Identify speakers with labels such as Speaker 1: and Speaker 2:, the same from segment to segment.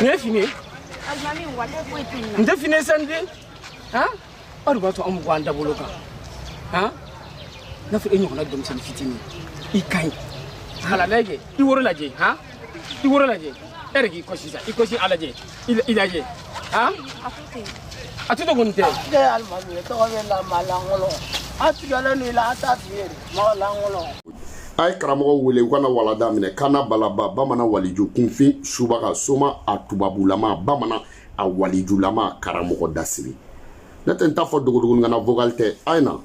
Speaker 1: Nin ye fini ye nin tɛ fini ye sa nin den han aw de b'a to an bɛ bɔ an dabolo kan han n'a fɔ e ɲɔgɔnna denmisɛnnin fitinin i ka ɲi hala lajɛ i woro lajɛ han i woro lajɛ e yɛrɛ k'i kɔsi sa i kɔsi a lajɛ i la- i lajɛ han a tɛ to kɔni tɛ Ne ye alimami
Speaker 2: tɔgɔ b'e la maa lankolon an tigɛlen don i la an t'a f'i ye de mɔgɔ lankolon a
Speaker 3: ye karamɔgɔ wele u kana walada minɛ kana balaba bamanan waliju kunfin subaga soma a tubabulama bamanan a walijulama karamɔgɔ dasiri ne tɛ n t'a fɔ dogodogonin kan na vocal tɛ a ye na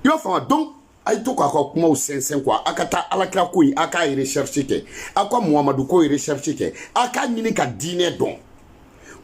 Speaker 3: i b'a faamu donc a ye to k'a ka kumaw sɛnsɛn quoi a ka taa alakira ko in a k'a recherche kɛ a ka muhamadu ko recherche kɛ a k'a ɲini ka diinɛ dɔn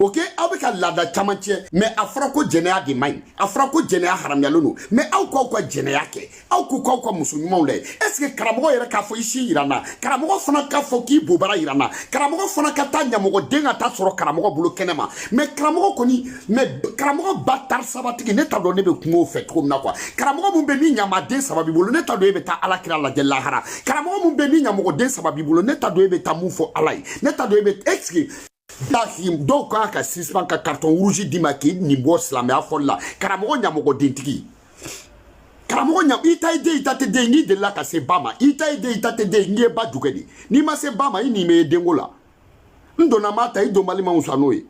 Speaker 3: ok aw bɛ ka laada caman tiɲɛ mais a fɔra ko jɛnɛya de man ɲi a fɔra ko jɛnɛya haramuyalen don mais aw k'aw ka jɛnɛya kɛ aw k'u k'aw ka muso ɲumanw lajɛ est ce que karamɔgɔ yɛrɛ k'a fɔ i sin yira n na karamɔgɔ fana k'a fɔ k'i bobara yira n na karamɔgɔ fana ka taa ɲamɔgɔden ka taa sɔrɔ karamɔgɔ bolo kɛnɛ ma mais karamɔgɔ kɔni mais karamɔgɔ batari sabatigi ne t'a dɔn ne bɛ kuma o fɛ cogo min na quoi karamɔgɔ min bɛ ni ɲamaden saba b'i bolo ne t'a dɔn e bɛ taa ala kira lajɛ lahara karamɔgɔ min bɛ ni ɲamɔgɔden saba b'i bolo ne t'a dɔn e bɛ taa mun fɔ ala ye ne t'a dɔn e bɛ est ce que dɔw kan ka suspend ka carton rouge d'i ma k'i nin bɔ silamɛya fɔli la karamɔgɔ ɲamɔgɔdentigi karamɔgɔ ɲa i ta ye den i ta tɛ den n'i delila ka se ba ma i ta ye den i ta tɛ den n'i ye ba jukɛ de n'i ma se ba ma i nin bɛ ye denko la n donna maa ta i donbali ma wusa n'o ye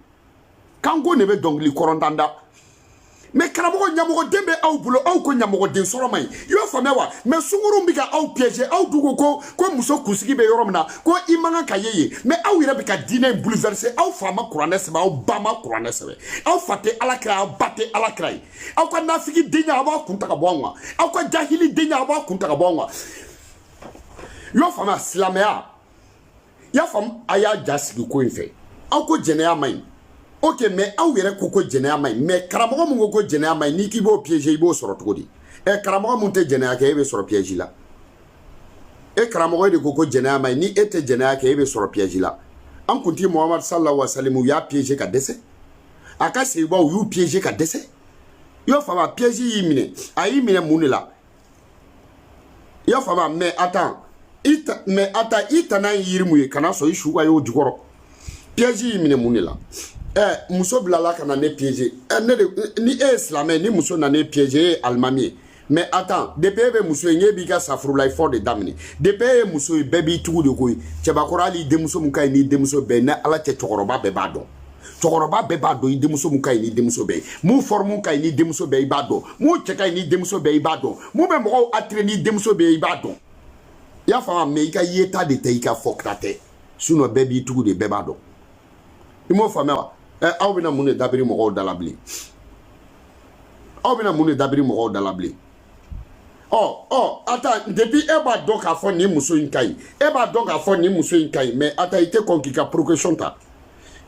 Speaker 3: kanko ne bɛ dɔnkili kɔrɔntan da mais karamɔgɔ ɲamɔgɔden bɛ aw bolo aw ko ɲamɔgɔden sɔrɔ man ɲi i y'o faamuya wa mais sunguruw bɛ ka aw piéger aw dun ko ko ko muso kunsigi bɛ yɔrɔ min na ko i man kan ka ye yen mais aw yɛrɛ bɛ ka diinɛ in bouleverser aw fa ma kuranɛ sɛbɛ aw ba ma kuranɛ sɛbɛ aw fa tɛ ala kira aw ba tɛ ala kira ye aw ka nafigi denya aw b'a kun ta ka bɔ anw kan aw ka jahili denya aw b'a kun ta ka bɔ anw kan i y'o faamuya silamɛya i y'a faamu a y'a ja sigi ko in fɛ aw ko jɛnɛya man ɲi ok mais aw yɛrɛ ko ko jɛnɛya man ɲi mais karamɔgɔ min ko ko jɛnɛya man ɲi n'i k'i b'o piéger i b'o sɔrɔ cogo di ɛ eh, karamɔgɔ min tɛ jɛnɛya kɛ e bɛ sɔrɔ piège la e karamɔgɔ e de ko ko jɛnɛya man ɲi ni e tɛ jɛnɛya kɛ e bɛ sɔrɔ piège la an kuntigi mohamadu sallahu wa salim u y'a piéger ka dɛsɛ a ka sahabaw u y'u piéger ka dɛsɛ i y'o faamuya piège y'i minɛ a y'i minɛ mun de la i y'a faamu mais attends i ta mais attends i tana ye yiri min ye kana sɔn i su ka y'o jukɔrɔ piège y'i minɛ mun de la ɛ muso bilala ka na ne piéger ni e ye silamɛ ni muso nana e piéger e ye alimami ye mais attends depuis e bɛ muso ye n'e b'i ka safurulayi fɔ de daminɛ depuis e ye muso ye bɛɛ b'i tugu de koyi cɛbakɔrɔ hali i denmuso min ka ɲi n'i denmuso bɛɛ ni ala cɛ cɛkɔrɔba bɛɛ b'a dɔn cɛkɔrɔba bɛɛ b'a dɔn i denmuso mun ka ɲi n'i denmuso bɛɛ ye mun forme ka ɲi n'i denmuso bɛɛ i b'a dɔn mun cɛ ka ɲi n'i denmuso bɛɛ i b'a dɔn mun bɛ mɔgɔw attirer n'i denmuso bɛɛ i b'a dɔn i y'a faamu mais i ka yeta de tɛ i ka fɔta tɛ sinon bɛɛ b'i tugu de bɛɛ b'a dɔn i m'o faamuya wa ɛ aw bɛna mun de dabiri mɔgɔw da la bilen aw bɛna mun de dabiri mɔgɔw da la bilen ɔ ɔ attends depuis e b'a dɔn k'a fɔ nin muso in ka ɲi e b'a dɔn k'a fɔ nin muso in ka ɲi mais attends i tɛ kɔn k'i ka précaution ta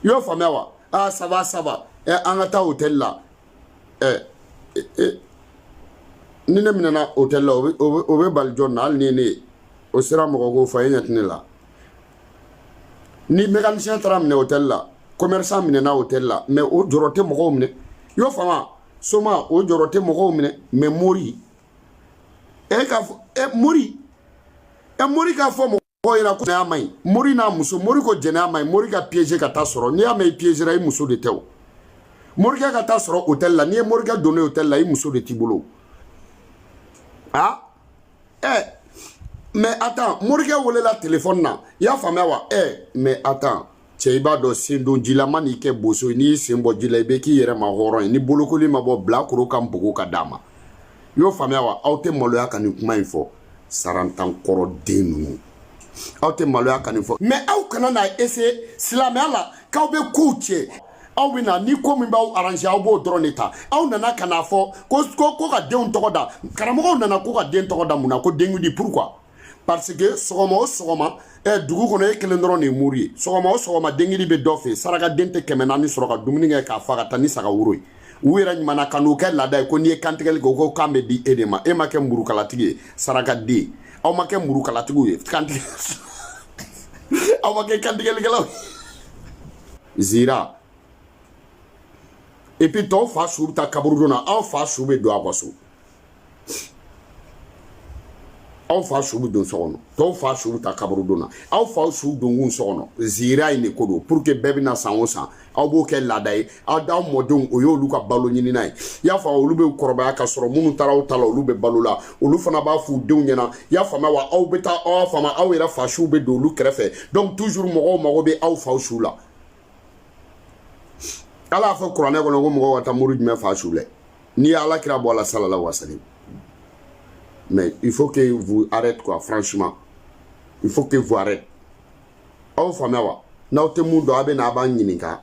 Speaker 3: i y'o faamuya wa aa ça va ça va ɛ an ka taa hôtel la ɛ ni ne minɛna hôtel la o bɛ bali jɔn na hali ni ne ye o sera mɔgɔ ko fɔ e ɲɛ tɛ ne la ni mécanicien taara minɛ hôtel la commerçant minɛna hôtel la mais o jɔrɔ tɛ mɔgɔw minɛ i y'o faamu soma o jɔrɔ tɛ mɔgɔw minɛ mais mori e k'a fɔ e mori e mori k'a fɔ mɔgɔ mɔgɔw ɲɛna ko jɛnɛya man ɲi mori n'a muso mori ko jɛnɛya man ɲi mori ka piéger ka taa sɔrɔ n'i y'a mɛn i piégera i muso de tɛ o morikɛ ka taa sɔrɔ hôtel la n'i ye morikɛ donnen hôtel la i muso de t'i bolo a ɛ mais attends morikɛ welela téléphone na i y'a faamuya wa ɛ mais attends cɛ i b'a dɔn sen don ji la ma n'i kɛ boso ye n'i y'i sen bɔ ji la i bɛ k'i yɛrɛ ma hɔrɔn ye ni bolokoli ma bɔ bilakoro ka npogo ka d'a ma i y'o faamuya wa aw tɛ maloya ka nin kuma in fɔ sarantankɔrɔ den ninnu aw tɛ maloya ka nin fɔ mais aw kana n'a essayer silamɛya la k'aw bɛ kow tiɲɛ aw bɛ na ni ko min b'aw arranger aw b'o dɔrɔn de ta aw nana ka n'a fɔ ko ko ko ka denw tɔgɔ da karamɔgɔw nana ko ka den tɔgɔ da mun na ko denkundi pourquoi parce que sɔgɔma o sɔgɔma ɛ eh, dugu kɔnɔ e kelen dɔrɔn de ye mori ye sɔgɔma o sɔgɔma denkundi bɛ dɔ fɛ sarakaden tɛ kɛmɛ naani sɔrɔ ka dumuni kɛ k'a fa ka taa ni saga woro ye u yɛrɛ ɲumanna ka n'o kɛ laada ye ko n'i ye kantigɛli kɛ u ko kan bɛ di e de ma e ma kɛ murukalatigi ye sarakaden aw ma kɛ murukalatigiw ye kantigɛ aw ma kɛ kantigɛlikɛlaw zira et puis tɔw fa su bɛ taa kaburudon na aw fa su bɛ don a ka so aw fa su bɛ don so kɔnɔ tɔw fa su bɛ taa kaburudon na aw fa su donkun so kɔnɔ zira in de ko don pour que bɛɛ bɛ na san o san aw b'o kɛ laada ye aw mɔdenw o y'olu ka balo ɲinina ye i y'a faamu olu bɛ kɔrɔbaya ka sɔrɔ minnu taara aw ta la olu bɛ balo la olu fana b'a f'u denw ɲɛna i y'a faamuya wa aw bɛ taa aw y'a faamu aw yɛrɛ fa su bɛ don olu kɛrɛfɛ donc toujours mɔgɔw mago bɛ aw fa su la ala y'a fɔ kuranɛ kɔnɔ ko mɔgɔw ka taa mori jumɛn fa su lɛ n'i ye ala kira bɔ a la sallallahu alaihi wa sallam mais il faut que vous arrête quoi franchement il faut que vous arrête aw faamuya wa n'aw tɛ mun dɔn a bɛ na a b'a ɲininka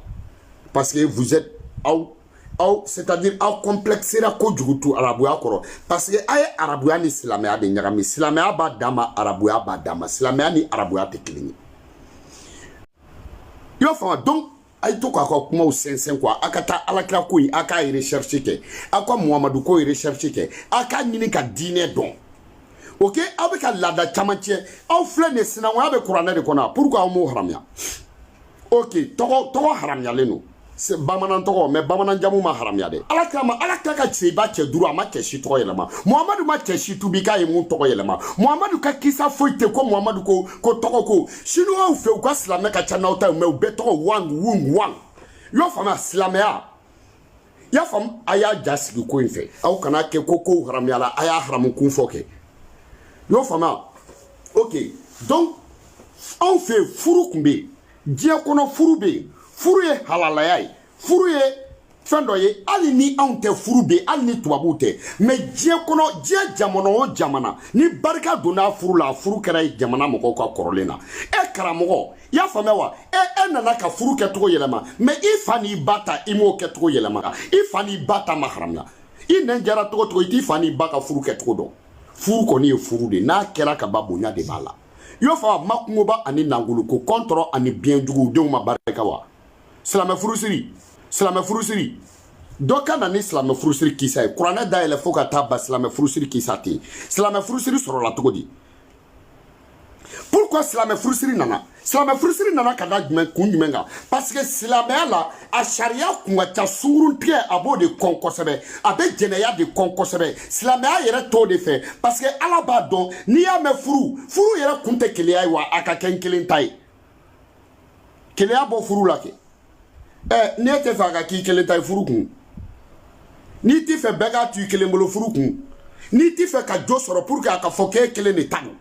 Speaker 3: parce que vous êtes aw aw c'est à dire aw complexera kojugu tu arabuya kɔrɔ parce que a ye arabuya ni silamɛya de ɲagami silamɛya b'a dan ma arabuya b'a dan ma silamɛya ni arabuya tɛ kelen ye i y'a faamu donc a ye to k'a ka kumaw sɛnsɛn quoi a ka taa alakira ko in a k'a recherche kɛ a ka muhamadu ko recherche kɛ a k'a ɲini ka diinɛ dɔn ok aw bɛ ka laada caman tiɲɛ aw filɛ nin sinankunya bɛ kuranɛ de kɔnɔ pourquoi aw m'o haramuya ok tɔgɔ tɔgɔ haramuyalen don bamanan tɔgɔ mais bamanan jamu ma haramuya dɛ alakira ma alakira ka cɛba cɛ duuru a ma cɛ si tɔgɔ yɛlɛma muhamadu ma cɛ si tubi k'a ye mun tɔgɔ yɛlɛma muhamadu ka kisa foyi tɛ ko muhamadu ko ko tɔgɔ ko sinuwaw fɛ u ka silamɛ ka ca n'aw ta ye mais u bɛɛ tɔgɔ wang wung wang i y'o faamuya silamɛya i y'a faamu a y'a ja sigi ko in fɛ aw kana kɛ ko kow haramuyala a y'a haramu kun fɔ kɛ i y'o faamuya ok donc anw fɛ furu tun bɛ yen diɲɛ kɔnɔ furu bɛ yen furu ye halalaya ye furu ye fɛn dɔ ye hali ni anw tɛ furu bɛ yen hali ni tubabuw tɛ mais diɲɛ kɔnɔ diɲɛ jamana o jamana ni barika donna furu la furu kɛra jamana mɔgɔw ka kɔrɔlen na e karamɔgɔ i y'a faamuya wa e e nana ka furu kɛcogo yɛlɛma mais i fa n'i ba ta i m'o kɛcogo yɛlɛma i fa n'i ba ta ma haramuya i nɛn jara cogo o cogo i t'i fa n'i ba ka furu kɛcogo dɔn furu kɔni ye furu de n'a kɛra ka ban bonya de b'a la i y'o faamu makungoba ani nangolo ko kɔntɔrɔ ani biɲɛjugu denw ma barika wa silamɛ furusiri silamɛ furusiri dɔ ka na ni silamɛ furusiri kisa ye kuranɛ dayɛlɛ fo ka taa ban silamɛ furusiri kisa tɛ yen silamɛ furusiri sɔrɔla cogo di pourquoi silamɛ furusiri nana silamɛ furusiri nana ka da jumɛn kun jumɛn kan parce que silamɛya la a sariya kun ka ca sunguruntigɛ a b'o de kɔn kosɛbɛ a bɛ jɛnɛya de kɔn kosɛbɛ silamɛya yɛrɛ t'o de fɛ parce que ala b'a dɔn n'i y'a mɛn furu furu yɛrɛ kun tɛ keleya ye wa a ka kɛ n kelen ta ye keleya bɔ furu la kɛ ɛ n'e tɛ fɛ a ka k'i kelen ta ye furu kun n'i tɛ fɛ bɛɛ k'a to i kelen bolo furu kun n'i tɛ fɛ ka jo sɔrɔ pour que a ka fɔ k'e kelen de ta don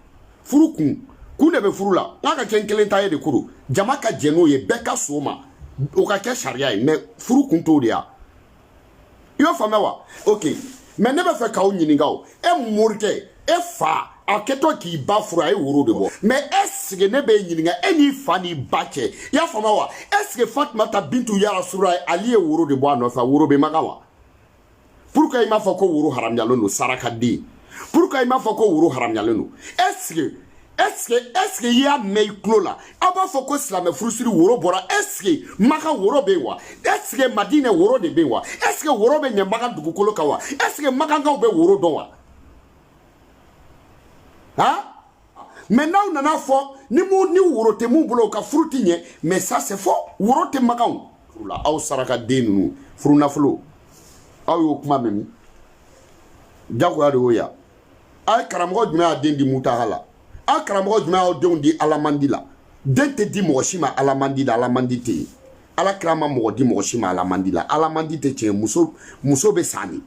Speaker 3: furu kun kun de bɛ furu la n k'a ka kɛ n kelen ta ye de koro jama ka jɛn n'o ye bɛɛ ka sɔn a ma o ka kɛ sariya ye mais furu kun t'o de ya i y'o faamuya wa ok mais ne bɛ fɛ k'aw ɲininka o e morikɛ e fa a kɛtɔ k'i ba furu a ye woro de bɔ mais est ce que ne b'i ɲininka e n'i fa n'i ba cɛ i y'a faamuya wa est ce que fatumata bintu ya rasululah ali ye woro de bɔ a nɔfɛ woro bɛ maka wa pourquoi i m'a fɔ ko woro haramuyalen don sarakaden pourquoi i m'a fɔ ko woro haramuyalen don est ce que est ce que est ce que i y'a mɛn i tulo la aw b'a fɔ ko silamɛ furusiri woro bɔra est ce que maka woro bɛ yen wa est ce que madinɛ woro de bɛ yen wa est ce que woro bɛ ɲɛ maka dugukolo kan wa est ce que makankaw bɛ woro dɔn wa han. mais n'aw nana fɔ ni mu ni woro tɛ mun bolo u ka furu ti ɲɛ mais ça c'est faux woro tɛ makanw furu la aw sarakaden ninnu furu nafolo aw y'o kuma mɛn min jagoya de y'o ya a ye karamɔgɔ jumɛn y'a den di mutaha la a ye karamɔgɔ jumɛn y'aw denw di alamandi la den tɛ di mɔgɔ si ma alamandi la alamandi tɛ yen ala kira ma mɔgɔ di mɔgɔ si ma alamandi la alamandi tɛ tiɲɛ muso muso bɛ san de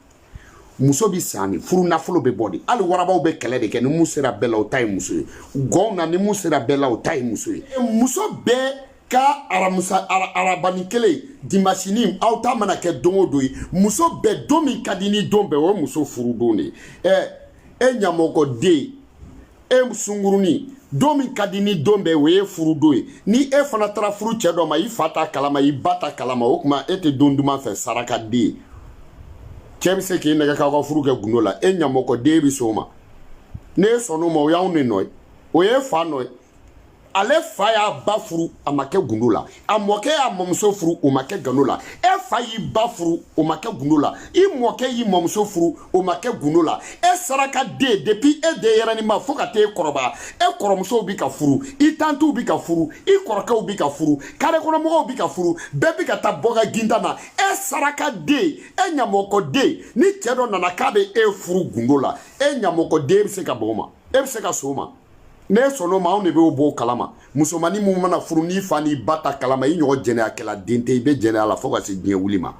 Speaker 3: muso bi san de furu nafolo bɛ bɔ de hali warabaw bɛ kɛlɛ de kɛ ni mun sera bɛɛ la o ta ye muso ye gɔnw na ni mun sera bɛɛ la o ta ye muso ye muso bɛɛ ka aramusa ara, arabani kelen dimasini aw ta mana kɛ don o don ye muso bɛɛ don min ka di ni don bɛɛ o ye muso furu don de ye ɛ e ɲamɔgɔden e sungurunin don min ka di ni don bɛɛ o ye furu don ye ni e fana taara furu cɛ dɔ ma i fa t'a kalama i ba t'a kalama o tuma e tɛ don duman fɛ sarakaden cɛ bɛ se k'i nɛgɛ k'aw ka furu kɛ gundo la e ɲamɔgɔden bɛ s'o ma n'e sɔnn'o ma o y'anw de nɔ ye o ye fa nɔ ye ale fa y'a ba furu a ma kɛ gundo la a mɔkɛ y'a mɔmuso furu o ma kɛ gundo la e fa y'i ba furu o ma kɛ gundo la i mɔkɛ y'i mɔmuso furu o ma kɛ gundo la e sarakaden depuis e denyɛrɛninma fo ka t'e kɔrɔbaya e kɔrɔmusow bi ka furu i tantiw bi ka furu i kɔrɔkɛw bi ka furu kare kɔnɔmɔgɔw bi ka furu bɛɛ bi ka taa bɔ ka ginda na e sarakaden e ɲamɔgɔden ni cɛ dɔ nana k'a be e furu gundo la e ɲamɔgɔden be se ka bɔ o ma e be se ka s'o ma n'e sɔnn'o ma anw de b'o b'o kalama musomannin mun mana furu n'i fa n'i ba t'a kalama i ɲɔgɔn jɛnɛyakɛla den tɛ i bɛ jɛnɛya la fo ka se diɲɛ wuli ma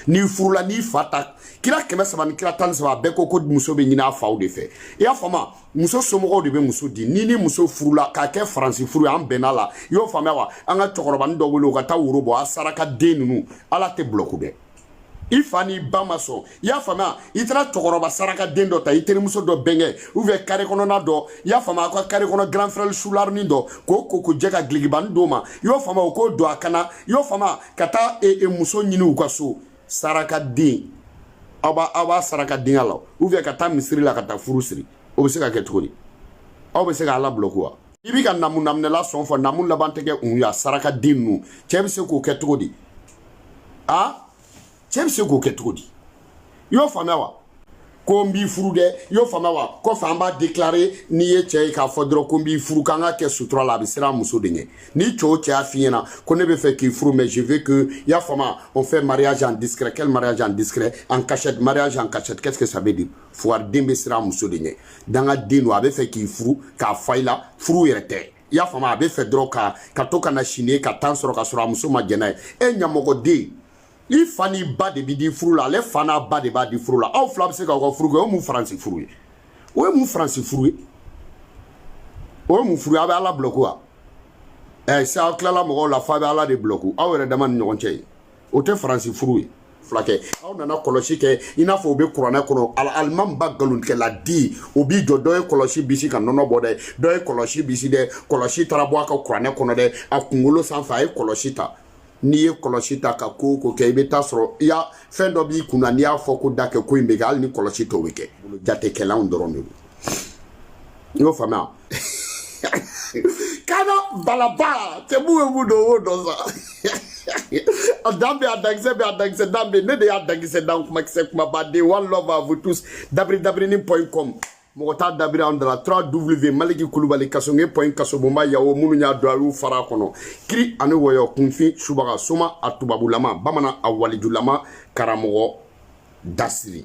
Speaker 3: n'i furula n'i fa t'a kira kɛmɛ saba ni kira tan ni saba bɛɛ ko ko muso bɛ ɲini a faw de fɛ i y'a faamu muso somɔgɔw de bɛ muso di ni ni muso furula k'a kɛ faransi furu ye an bɛnna la i y'o faamuya wa an ka cɛkɔrɔbanin dɔ wele o ka taa woro bɔ a sarakaden ninnu ala tɛ bulɔku dɛ i fa n'i ba ma sɔn i y'a faamuya i taara cɛkɔrɔba sarakaden dɔ ta i terimuso dɔ bɛnkɛ ou bien kare kɔnɔna dɔ i y'a faamuya aw ka kare kɔnɔ grand frère sularinin dɔ k'o ko k'o jɛ ka dulɔkibanin d'o ma i y'o faamuya o k'o don a kan na i y'o faamuya ka taa e, e, muso ɲini u ka so sarakaden aw b'a aw b'a sarakadenya la ou bien ka taa misiri la ka taa furu siri o bɛ se ka kɛ cogo di aw bɛ se ka ala bulɔku wa i bɛ ka namu naminɛla sɔn fo namu laban tɛ kɛ un ye a sarakaden ninnu cɛ bɛ se k'o kɛ cogo di a cɛ bɛ se k'o kɛ cogo di i y'o faamuya wa ko n b'i furu dɛ i y'o faamuya wa kɔfɛ an b'a déclarer n'i ye cɛ ye k'a fɔ dɔrɔn ko n b'i furu k'an ka kɛ sutura la a bɛ siran muso de ɲɛ ni cɛ o cɛ y'a f'i ɲɛna ko ne bɛ fɛ k'i furu mais je veux que i y'a faamuya on fait mariage en discret quel mariage en discret en cachette mariage en cachette qu'est-ce que ça veut dire fugariden bɛ siran muso de ɲɛ dangaden don a bɛ fɛ k'i furu ka fa i la furu yɛrɛ tɛ i y'a faamu a b'a fɛ dɔrɔn k'a to ka na sini ka tan sɔrɔ ka sɔrɔ a muso ma jɛn n'a ye e ɲamɔgɔden i fa n'i ba de b'i di furu la ale fa n'a ba de b'a di furu la aw fila bɛ se k'aw ka furu kɛ o ye mun faransi furu ye o ye mun faransi furu ye o ye mun furu ye aw bɛ ala bulɔku wa ɛ eh, sa aw tilala mɔgɔw la f'aw bɛ ala de bulɔku aw yɛrɛ dama ni ɲɔgɔn cɛ ye o tɛ faransi furu ye fulakɛ aw nana kɔlɔsi kɛ i n'a fɔ o bɛ kuranɛ kɔnɔ alimamiba nkalontigɛla di o b'i jɔ dɔ ye kɔlɔsi bisi ka nɔnɔ bɔ dɛ dɔ ye kɔlɔsi bisi dɛ kɔlɔsi taara bɔ a ka kuranɛ kɔnɔ dɛ a kunkolo sanfɛ a ye kɔlɔsi ta n'i ye kɔlɔsi ta ka ko ko kɛ i bɛ taa sɔrɔ i y'a fɛn dɔ b'i kunna n'i y'a fɔ ko da kɛ ko in bɛ kɛ hali ni kɔlɔsi t'o bɛ kɛ jatekɛlanw dɔrɔn de don i y'o faamuya kana balaba cɛ mun bɛ mun dɔn o y'o dɔn sa a dan bɛ a dankisɛ bɛ a dankisɛ dan bɛ ne de y'a dankisɛ dan kumakisɛ kumabaden one love à vous tous dabiri dabiri ni point com mɔgɔ t'a dabiri an dala trois w maliki kulubali kasonge point kasobonba yawo minnu y'a don a y'u fara kɔnɔ kiri ani wɔyɔ kunfin subaga soma a tubabulama bamanan a walijulama karamɔgɔ dasiri